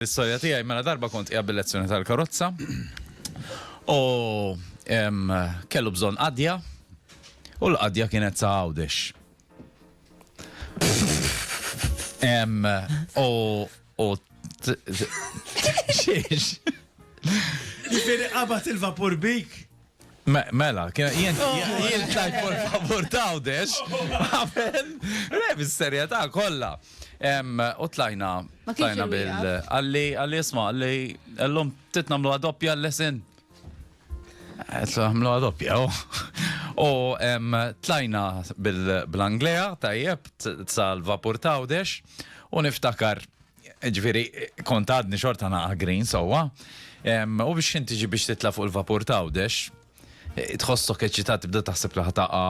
L-istorja tiegħi, mela darba kont qiegħed bil-lezzjoni tal-karozza u kellu bżonn qadja u l-qadja kienet ta' Għawdex. U u xiex. Jifieri qabat il-vapur bik? Mela, jien tajt por favor tawdex, għamen, le, bis-serjetà kollha. U tlajna, tlajna bil. Għalli, għalli isma, għalli, għallum titnamlu għadoppja l-lesin. Għamlu għadoppja, oh. u tlajna bil-Anglea, tajjeb, sal-vapur tawdex, u niftakar Ġifieri kont għadni xorta naqa' green sewwa. U biex inti ġi biex titla' fuq il-vapur ta' Għawdex, eh, tħossok eċitat tibda taħseb li ħataqa,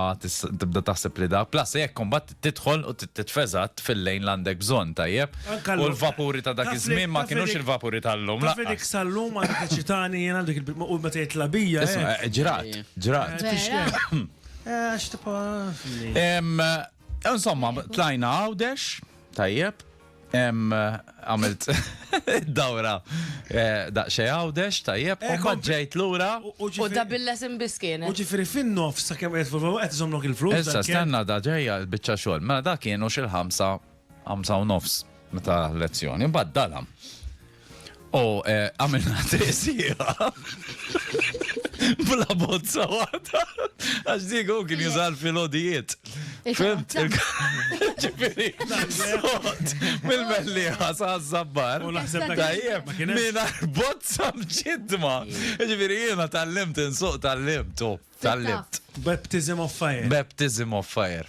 tibda taħseb li da. Plus jekk kombat tidħol u titfeżat fil-lejn l-għandek bżonn tajjeb. U l-vapuri ta' dak iż-żmien ma kienux il-vapuri tal-lum. Taf li dik sal-lum għandek eċitani jien għandek il-u meta jitla' bija. Eh. Eh, ġrat, ġrat. Insomma, tlajna Għawdex, tajjeb. Em, għamilt dawra eh, daqxej għawdex, tajjeb, Eh, u kom- ġejt lura. U U ġifiri- da billes imbiskien. u ġifiri fin-nofs sa' kemm qed fuq qed iżomlok il-flus. Issa dan kien- stenna da ġejja l-biċċa xogħol. Mela da kienu xil-ħamsa, ħamsa u nofs meta lezzjoni, mbagħad dalam. U eh, għamilna tesira. Bla bozza għata. Għax diku kien jużal fil-odijiet. Fimt? Ġifiri, sot, mill-melliħa sa' zabbar. U naħseb ta' tajjeb, minna bozza mġidma. Ġifiri, jena tal-limt, insuq tal-limt, tal-limt. Baptism of fire. Baptism of fire.